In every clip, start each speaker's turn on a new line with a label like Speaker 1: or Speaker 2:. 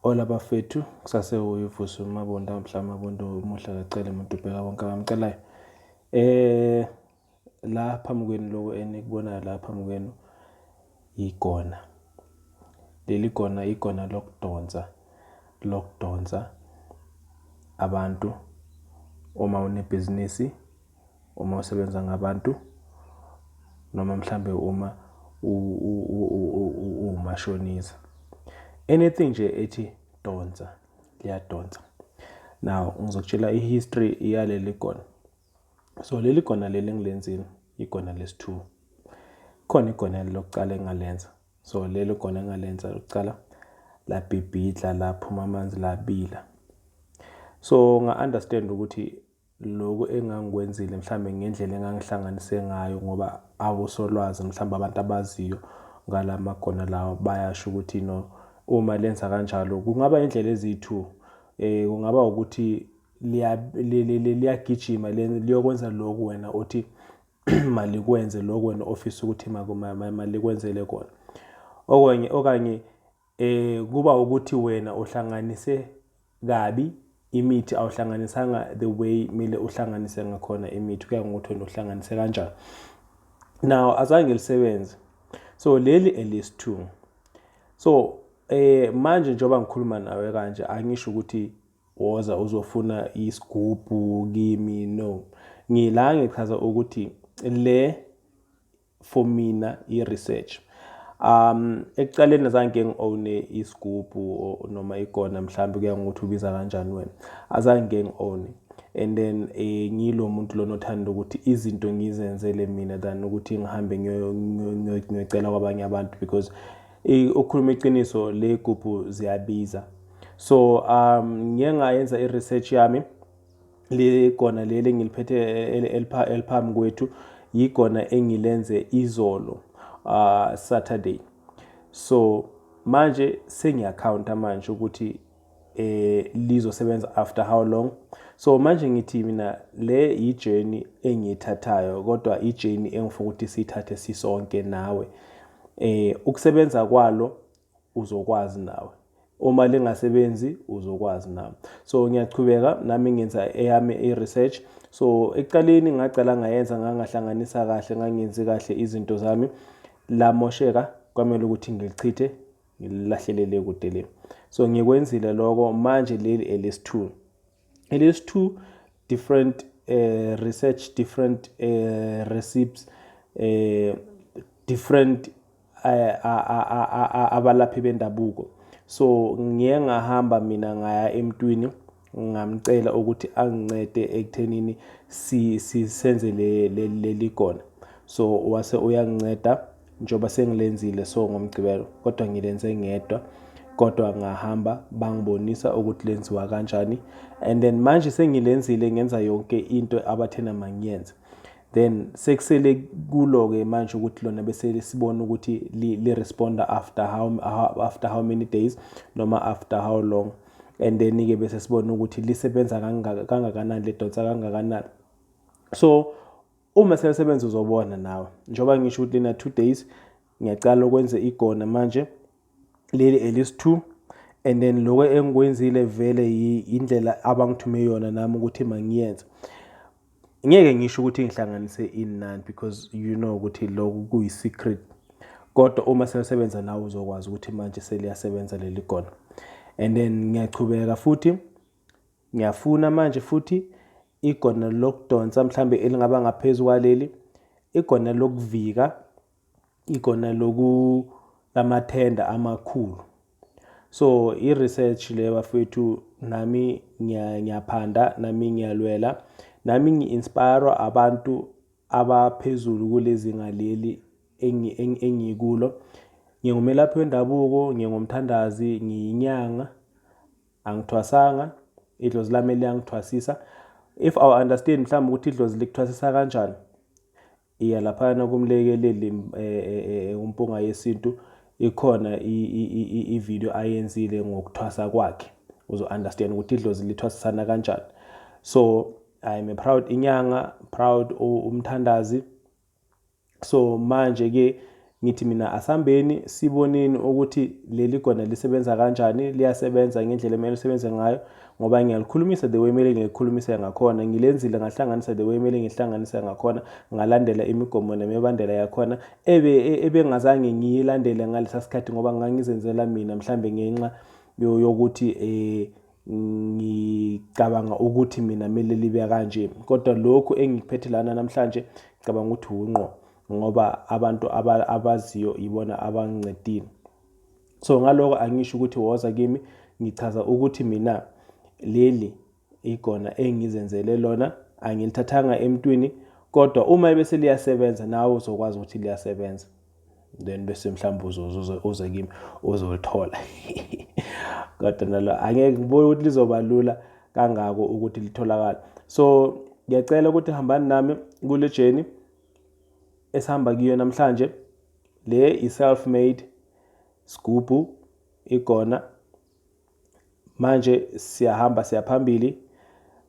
Speaker 1: Hola bafethu kusase uyivuso mabonda mhla mabonda umuhle kacele umuntu ubheka konke abamcelayo eh la phambi kwenu lokho enikubonayo la phambi kwenu igona leli gona igona lokudonsa lokudonsa abantu uma unebhizinisi Uma usebenza ngabantu noma mhlambe uma uwumashonisa. Anything nje ethi donsa liyadonsa. Now ngizokutshela i-history yaleli gona. So leli gona leli engilenzile igona lesi-2. Khona igona lokuqala engalenza. So leli gona engalenza lokuqala labhibhidla laphuma amanzi labila. So nga-understand ukuthi lokhu engangikwenzile mhlawumbe ngendlela engangihlanganise ngayo ngoba abosolwazi mhlawumbe abantu abaziyo ngala magona lawa bayasho ukuthi no uma lenza kanjalo kungaba indlela eziyi-two eh kungaba ukuthi liyagijima liyokwenza lokhu wena othi malikwenze lokhu wena ofisa ukuthi malikwenzele kona okanye okanye Eh kuba ukuthi wena uhlanganise kabi imithi awuhlanganisanga the way kumele uhlanganise ngakhona imithi kuya ngokuthi wena uhlanganise kanjani now azange lisebenze so leli elesi 2 so eh manje njengoba ngikhuluma nawe kanje angisho ukuthi woza uzofuna isigubhu kimi no ngila ngichaza ukuthi le for mina i-research um ekuqaleni azange ngi-owne isigubhu noma ikona mhlawumbe kuya ngokuthi ubiza kanjani wena azange ngi-owne and then eh, ngilo muntu lona othanda ukuthi izinto ngizenzele mina than ukuthi ngihambe ngiyocela kwabanye abantu because eh, ukukhuluma iqiniso le gubhu ziyabiza so um ngiye ngayenza i-research yami ligona leli engiliphethe eliphambi kwethu yigona engilenze izolo uh, Saturday so manje sengiyacounta manje ukuthi eh lizosebenza after how long so manje ngithi mina le yijourney engiyithathayo kodwa ijourney engifuna ukuthi sithathe sisonke nawe eh ukusebenza kwalo uzokwazi nawe uma lingasebenzi uzokwazi na so ngiyachubeka nami ngenza eyami i-research so ekuqaleni ngacala ngayenza ngangahlanganisa kahle ngangenzi kahle izinto zami lamosheka kwamele ukuthi ngilichithe ngilahlelele kude le so ngikwenzile lokho manje leli elesi-two it is two different uh, research different uh, recipes uh, different uh, abalaphi bendabuko so ngiye ngahamba mina ngaya emntwini ngamcela ukuthi angincede ekuthenini si, si, senze leli gona so wase uyanginceda njengoba sengilenzile so ngomgqibelo kodwa ngilenze ngedwa kodwa ngahamba bangibonisa ukuthi lenziwa kanjani and then manje sengilenzile ngenza yonke into abathena mangiyenze then sekusele kulo-ke manje ukuthi lona bese sibona ukuthi li-responda after how, after how many days noma after how long and then-ke bese sibona ukuthi lisebenza kangakanani lidonsa kangakanani so Uma seyasebenza uzobona nawe. Njengoba ngisho ukuthi lena two days ngiyacala ukwenza igona manje leli elist two and then lokho engikwenzile vele indlela abangithume yona nami ukuthi mangiyenze ngeke ngisho ukuthi ngihlanganise inani because you know ukuthi lokhu kuyi-secret kodwa uma seyasebenza nawe uzokwazi ukuthi manje seliyasebenza leli gona and then ngiyachubeka futhi ngiyafuna manje futhi igonelo lokudonsa mhlambe elingaba ngaphezulu kwaleli igonelo lokuvika igonelo loku lamathenda amakhulu so i-research le bafethu nami ngiyaphanda nami ngiyalwela nami ngi-inspire abantu abaphezulu kulezinga leli engikulo ngingumelaphi wendabuko ngingumthandazi ngiyinyanga Angithwasanga, idlozi lami liyangithwasisa. If I understand mhlawumbe ukuthi idlozi likuthwasisa kanjani, iya laphayana kumlekeleli um umpunga yesintu ikhona i-video ayenzile ngokuthwasa kwakhe uzo-understand ukuthi idlozi lithwasisana kanjani so I'm a proud inyanga proud umthandazi So manje ke ngithi mina asambeni siboneni ukuthi leli gona lisebenza kanjani liyasebenza ngendlela emele lisebenze ngayo ngoba ngiyalikhulumisa the way emele ngilikhulumise ngakhona ngilenzile ngahlanganisa the way emele ngihlanganise ngakhona ngalandela imigomo nemibandela yakhona ebe e, ebengazange ngiyilandele ngalesa sikhathi ngoba ngangizenzela mina mhlambe ngenxa yokuthi eh ngicabanga ukuthi mina kumele libe kanje kodwa lokhu engikuphethe lana namhlanje ngicabanga ukuthi wunqo ngoba abantu abaziyo yibona abangincedile so ngaloko angisho ukuthi woza kimi ngichaza ukuthi mina leli igona engizenzele lona angilithathanga emntwini kodwa uma ebese liyasebenza nawe uzokwazi ukuthi liyasebenza then bese mhlawumbe uzoze uze kimi uzolithola kodwa nalo angeke ngibone ukuthi lizoba lula kangako ukuthi litholakala so ngiyacela ukuthi hambani nami kule journey esihamba kuyo namhlanje le i-self made sgubhu igona manje siyahamba siyaphambili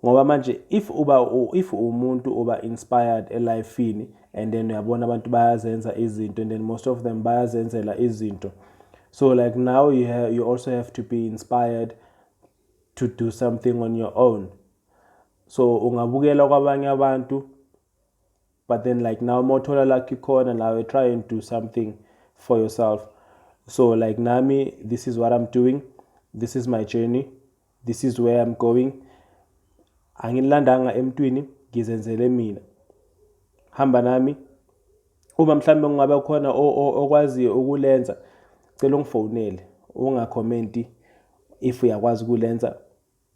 Speaker 1: ngoba manje if uba if umuntu uba inspired elifini and then uyabona abantu bayazenza izinto and then most of them bayazenzela izinto so like now you, have, you also have to be inspired to do something on your own so ungabukela kwabanye abantu but then like now mothola lucky corner now you try and do something for yourself so like nami this is what i'm doing this is my journey this is where i'm going angilandanga emntwini ngizenzele mina hamba nami uma mhlawumbe kungabe khona okwaziyo ukulenza cela ungifonele ungakhomenti if uyakwazi ukulenza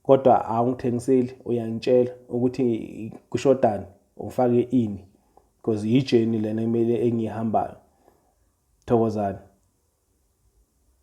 Speaker 1: Kodwa awungithengiseli uyangitshela ukuthi kushodani ufake ini because yi journey lena emele engihambayo. Thokozani.